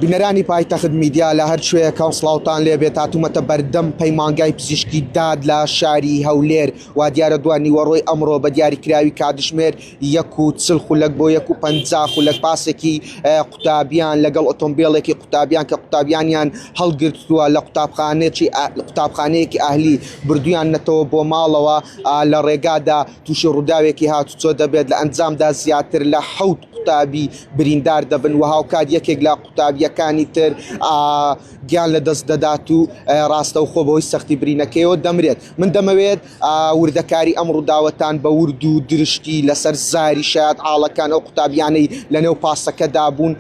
بینەرانی پایتەخت میدیا لە هەر شوێیەکە و سلااوان لێ بێت هاتوومەتە بەردەم پەیمانگای پزیشکی داد لە شاری هەولێر و دیارە دووان نیوەڕۆی ئەمڕۆ بە دیاریکراوی کاتژمێر یەک و چل خولەک بۆ یەک و پ خولەک پاسێکی قوتابیان لەگەڵ ئۆتۆمبیلێکی قوتابیان کە قوتابیانیان هەڵگرتووە لە قوتابخانێکی قوتابخانەیەکی ئاهلی بردویان نەتەوە بۆ ماڵەوە لە ڕێگادا تووشی ڕووداوێکی هاتوچۆ دەبێت، لە ئەنجامدا زیاتر لە حەوت قوتابی بریندار دەبن و هاوکات یەکێک لە قوتابییەکانی تر گیان لەدەست دەدات و ڕاستەوخۆ بەهۆی سەختی برینەکەیەوە دەمرێت. من دەمەوێت وردەکاری ئەم ڕووداوەتان بە ورد و درشتی لەسەر زاری شایەت عاڵەکان ئەو قوتابیانەی لەنێو پاسەکەدا بوون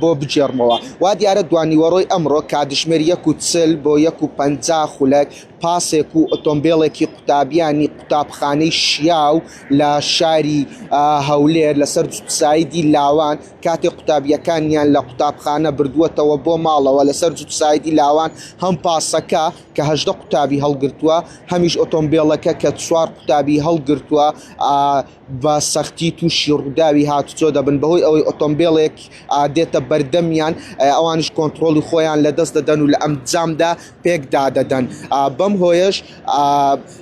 بۆ بگێڕمەوە. وا دیارە دوانیوەڕۆی ئەمڕۆ کاتژمێر یەک و چل بۆ یەک و پەنجا خولەک، پاسێک و ئۆتۆمبێڵێکی قوتابیانی قوتابخانەی شیاو لە شاری هەولێر لەسەر جوتسایدی لاوان کاتێ قوتابیەکانیان لە قوتابخانە بردووەتەوە بۆ ماڵەوە لەسەر جوتسایدی لاوان هەم پاسەکە کە هەژدە قوتابی هەڵگرتووە هەمیش ئۆتۆمبێڵەکە کە چوار قوتابی هەڵگرتووە بە سەختی تووشی ڕووداوی هاتوچۆ دەبن بەهۆی ئەوەی ئۆتۆمبێڵێک دێتە بەردەمیان ئەوانش کۆنتترۆلی خۆیان لە دەست دەدەن و لە ئەم جامدا پێکدا دەدەن بەم هۆیش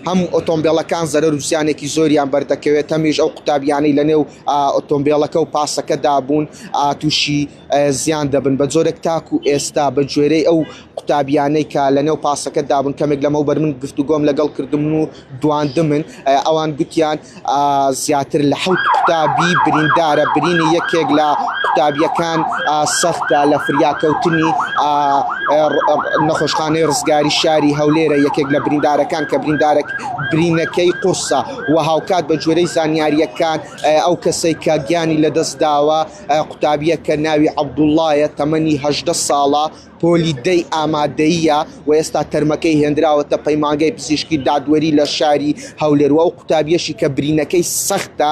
هەم ئۆتۆمبیلەکان زەرەر وسیانێکی زۆریان بەردەکەوێت هەمیش ئەو قوتابیانی لە نێو ئۆتۆمبیلەکە و پاسەکەدا بوون تووشی زیان دەبن بە جۆرێک تاکو ئێستا بە گوێرەی ئەو قوتابیانەی کە لە نێو پاسەکە دابن کەمێک لەمەو بەر من گفتو گۆم لەگەڵ کردم و دواندمن ئەوان گوتیان زیاتر لە حوت قوتابی بریندارە برینی یەکێک لە قوتابیەکان سەختە لە فریاکەوتنی نەخۆشخانەی ڕزگاری شاری هەولێرە یەکێک لە بریندارەکان کە بریندارە برینەکەی قورسە و هاوکات بە جوێرەی زانیاریەکان ئەو کەسەی کە گیانی لەدەست داوە قوتابییەک کە ناوی عەبدوڵڵایە، تەمەنی هەژدە ساڵە، پۆلی دەی ئامادەییە و ئێستا تەرمەکەی هێندراوەتە پەیمانگای پزیشکی دادوەری لە شاری هەولێر و ئەو قوتابییەشی کە برینەکەی سەختە،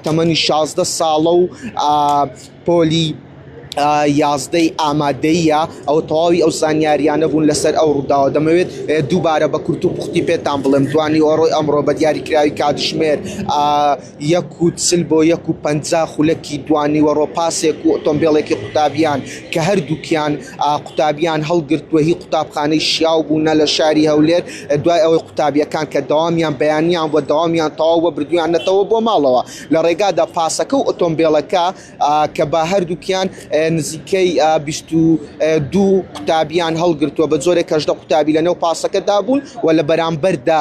تەمەنی شازدە ساڵە و پۆلی یازدەی ئامادەییە. ئەوە تەواوی ئەو زانیارییانە بوون لەسەر ئەو ڕووداوە. دەمەوێت دووبارە بە کورت و پوختی پێتان بڵێم، دوانیوەڕۆی ئەمڕۆ بە دیاریکراوی کاتژمێر یەک و چل بۆ یەک و پەنجا خولەکی دوانیوەڕۆ پاسێک و ئۆتۆمبێڵێکی قوتابیان کە هەردووکیان قوتابیان هەڵگرتووە هی قوتابخانەی شیاو بوونە لە شاری هەولێر دوای ئەوەی قوتابیەکان کە دەوامیان بەیانیان بووە دەوامیان تەواو بووە بردوویانەتەوە بۆ ماڵەوە لە ڕێگادا پاسەکە و ئۆتۆمبێڵەکە کە بە هەردووکیان نزیکەی بیست و دوو قوتابیان هەڵگرتووە بە جۆرێک کە هەژدە قوتابی لەنێو پاسەکەدا بوون و لە بەرامبەردا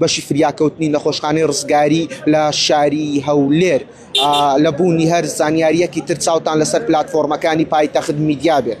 بەشی فریاکەوتنی نەخۆشخانەی ڕزگاری لە شاری هەولێر لە بوونی هەر زانیاریەکی تر چاوتان لەسەر پلتفۆرمەکانی پایتەخت میدیا بێت.